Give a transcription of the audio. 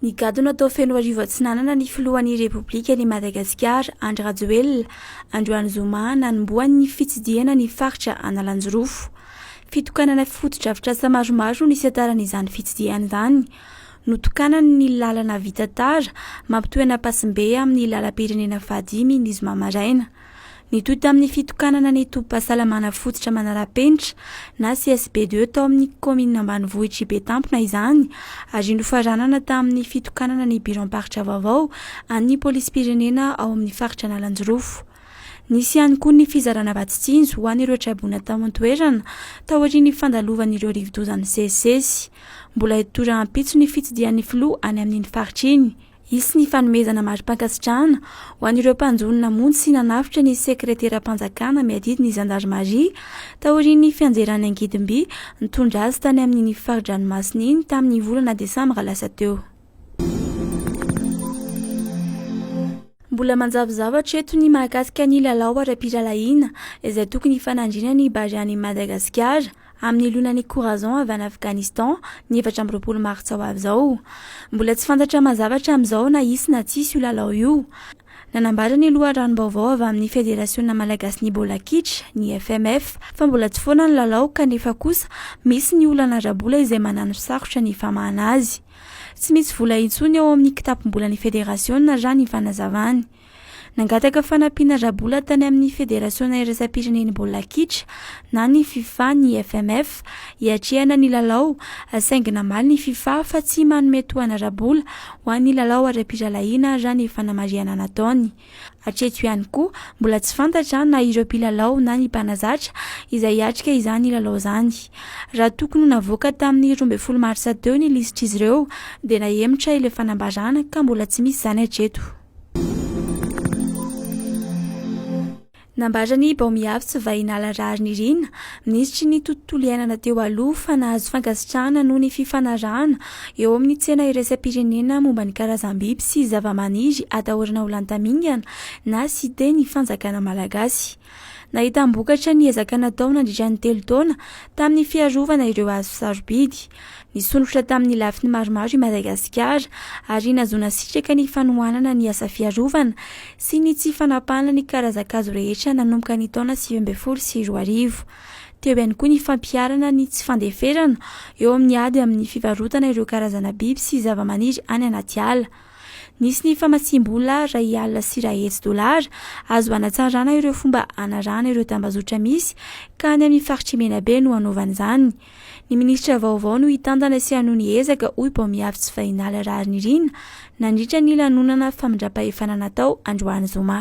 Nigadona tao Fenoarivo Atsinanana ny filohan'ny Repoblikan'i Madagasikara, Andry Rajoelina, androany zoma nanombohany ny fitsidihana ny faritra Analanjirofo. Fitokanana fotodrafitrasa maromaro no nisataran'izany fitsidihana izany. Notokanany ny lalana vita tara mampitohy an'Ampasimbe amin'ny lalam-pirenena fahadimy ny zoma maraina. Nitohy tamin'ny fitokanana ny tobim-pahasalamana fototra manara-penitra na CSBDE tao amin'ny kaominina ambanivohitr'i Betampona izany ary nofaranana tamin'ny fitokanana ny biraom-paritra vaovao an'ny polisim-pirenena ao amin'ny faritra Analanjirofo. Nisy ihany koa ny fizarana vatsin-tsinjo ho an'ireo traboina tao an-toerana taorian'ny fandalovan'ireo rivodoza nisesisesy. Mbola hitohy rahampitso ny fitsidihan'ny filoha any amin'iny faritra iny. Hisy ny fanomezana mari-pankasitrahana ho an'ireo mpanjono namonjy sy nanavotra ny sekreteram-panjakana miadidy ny zandarimaria taorian'ny fianjerany angidim-by nitondra azy tany amin'iny fari-dranomasina iny tamin'ny volana desambra lasa teo. Mbola manjavozavatra eto ny mahakasika ny lalao ara-pirahalahiana izay tokony hifanandrinan'ny Barea an'i Madagasikara. amin'ny lonan'ny Corazon avy any Afghanistan, ny efatra amby roapolo martsa ho avy izao. Mbola tsy fantatra mazava hatramin'izao na hisy na tsy hisy io lalao io. Nanambara ny loharanom-baovao avy amin'ny Federasiona malagasin'ny baolina kitra, ny FMF, fa mbola tsy foana ny lalao kanefa kosa misy ny olana ara-bola izay mananosarotra ny famahana azy. Tsy misy vola intsony ao amin'ny kitapom-bolan'ny federasiona, raha ny fanazavany. Nangataka fanampiana ara-bola tany amin'ny Federasiona iraisam-pirenen'ny baolina kitra na ny Fifa ny FMF hiatrehana ny lalao, saingy namaly ny Fifa fa tsy manome tohana ara-bola ho an'ny lalao ara-pirahalahiana raha ny fanamarihana nataony. Hatreto ihany koa, mbola tsy fantatra na ireo mpilalao na ny mpanazatra izay hiatrika izany lalao izany. Raha tokony ho navoaka tamin'ny roa ambin'ny folo marsa teo ny lisitr'izy ireo dia nahemotra ilay fanambarana ka mbola tsy misy izany hatreto. Nambaran'i Baomiavotso Vahinala Raharinirina, minisitry ny Tontolo iainana teo aloha fa nahazo fankasitrahana noho ny fifanarahana eo amin'ny tsena iraisam-pirenena momba ny karazam-biby sy zava-maniry atahorana ho lantamingana na site ny fanjakana malagasy. Nahitam-bokatra ny ezaka natao nandritra ny telo taona tamin'ny fiarovana ireo hazo sarobidy. Nisondrotra tamin'ny lafiny maromaro i Madagasikara ary nahazoana sitraka ny fanohanana ny asa fiarovana sy ny tsy fanapahana ny karazan-kazo rehetra nanomboka ny taona sivy ambin'ny folo sy roa arivo. Teo ihany koa ny fampiharana ny tsy fandeferana eo amin'ny ady amin'ny fivarotana ireo karazana biby sy zavamaniry any anaty ala. Nisy ny famatsiam-bola iray alina sy iray hetsy dolara azo hanatsarana ireo fomba hanarahana ireo tambazotra misy ka any amin'ny faritr'i Menabe no hanaovana izany. Ny minisitra vaovao no hitantana sy hanohy ny ezaka, hoy Baomiavy Tsivahinala Raharinirina nandritra ny lanonana famindram-pahefana natao androany zoma.